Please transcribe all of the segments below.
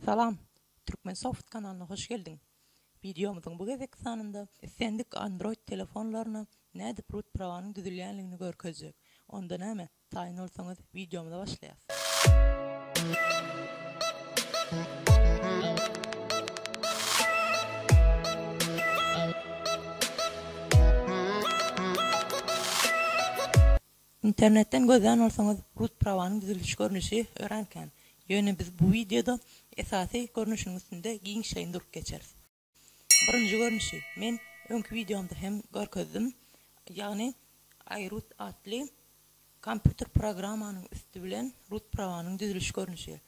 Salam! Turkmensoft kanalyna hoş geldiň! Wideomyzyň bu gezekki sanynda islendik Android telefonlaryna nädip root prawanyň düzülýänligini görkezjek. Onda näme, taýyn bolsaňyz wideomyza başlaýas. Internetden gözlän bolsaňyz hut prawanyň düzülişi görnüşi örän kän. Ýöne biz bu wideoda esasy görnüşiniň üstünde giňişleýin durup geçeris. Birinji görnüşi, men öňki wideomda hem görkezdim, ýagny iRoot atly kompýuter programmanyň üsti bilen rut prawanyň düzülişi görnüşi.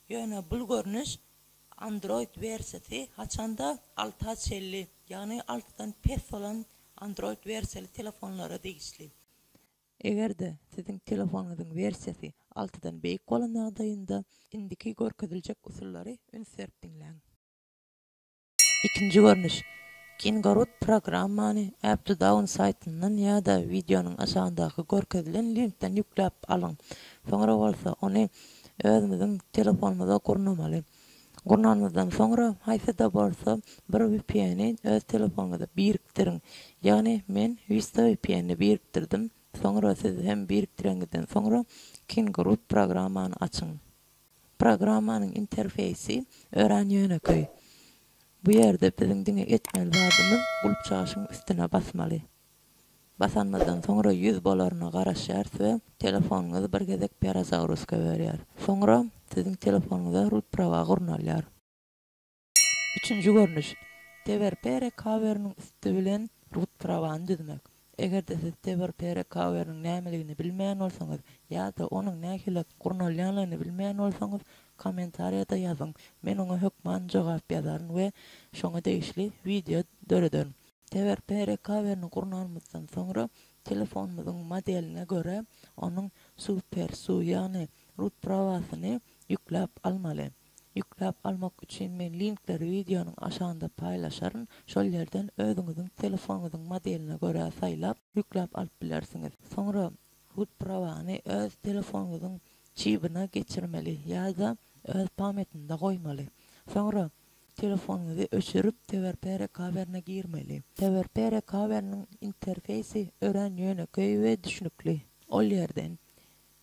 Ýöne bul görnüş Android wersiýasy haçanda alta çenli, ýagny altydan pes bolan Android wersiýaly telefonlara degişli. Eger-de siziň telefonyňyzyň wersiýasy altydan beýik bolan ýagdaýynda, indiki görkeziljek usullary üns berip diňläň. Ikinji görnüş, Kingaroot programmany AppToDown saýtyndan ýa-da wideonyň aşagyndaky görkezilen linkden ýükläp alyň. Soňra bolsa ony özümiziň telefonymyza gurnamaly. Gurnanmazdan soňra haýsy-da bolsa bir vpn-i öz telefonyňyza birikdiriň. Ýagny men Vista vpn-ni birikdirdim, soňra siz hem birikdireňizden soňra Kingroot programmany açyň. Programmanyň interfeýsi örän ýönekeý. Bu ýerde biziň diňe etmeli zadymyz gulpçaşyň üstüne basmaly. Basanmazdan soňra ýüz bolaryna garaşýarys we telefonyňyzy bir gezek perazagruska berýär. Soňra siziň telefonyňyza rut prawa gurnalýar. Üçünji görnüş, TVRP recoverynyň üsti bilen rut prawany düzmek. Eger-de siz TVRP recoverynyň nämeligini bilmeýän bolsaňyz ýa-da onuň nähili gurnalýanlygyny bilmeýän bolsaňyz, kommentariýada ýazyň, men oňa hökman jogap ýazaryn we şoňa degişli wideo dörederin. Teber Pere Cover-ni gurnanymyzdan soňra, telefonymyzyň modeline görä, onuň Super SU, ýagny Root prawasyny ýükläp almaly. Ýükläp almak üçin men linkleri wideonyň aşagynda paýlaşaryn, şol ýerden özüňiziň telefonyňyzyň modeline görä saýlap, ýükläp alyp bilersiňiz. Soňra Root prawany öz telefonyňyzyň çibine geçirmeli ýa-da öz pametinde goýmaly. Soňra Telefonyňyzy öçürip, TewerPere Cavern-e girmeli. TewerPere Cavern-iň interfeýsi örän ýönekeý we düşnükli. Ol ýerden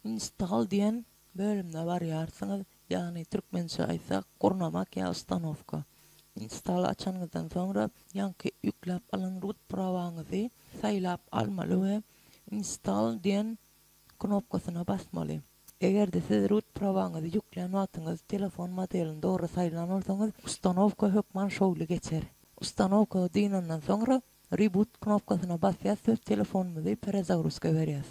Install diýen bölümine barýarsyňyz, ýagny türkmençe aýtsak, gurnamak ýa ustanowka. Install-y açanyňyzdan soňra, ýaňky ýükläp alan rut prawaňyzy saýlap almaly we Install diýen knopkasyna basmaly. Eger-de siz root prowaňyzy ýüklän wagtyňyz telefon modelini dogry saýlan bolsaňyz, ustanowka hökman şowly geçer. Ustanowka dynandan soňra Reboot knopkasyna basýas we telefonymyzy perezagruzka berýäs.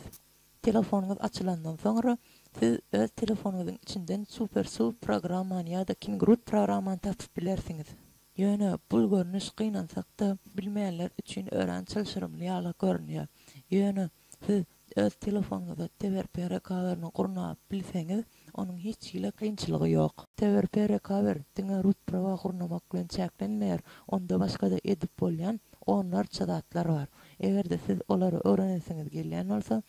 Telefonyňyz açylandan soňra, siz öz telefonyňyzyň içinden SuperSu programmany ýa-da KingRoot programmany tapyp bilersiňiz. Ýöne bul görnüş gynansak-da, bilmeýänler üçin örän çylşyrymly ýala görünýär. Ýöne. Siz öz telefonuňyza TewerPere kawerini gurnap bilseňiz, onuň hiç hili kynçylygy ýok. TewerPere kawer diňe root prawa gurnamak bilen çäklenmeýär, onda başga-da edip bolýan onlarça zatlar bar. Eger-de siz olary öwrenesiňiz gelýän bolsa,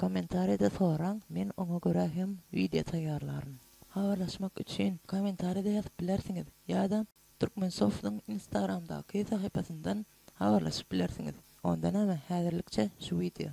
kommentariýada soraň, men oňa görä hem wideo taýýarlaryn. Habarlaşmak üçin kommentariýada ýazyp bilersiňiz ýa-da Turkmensoft'yň Instagramdaky sahypasyndan habarlaşyp bilersiňiz. Onda näme, häzirlikçe şu wideo.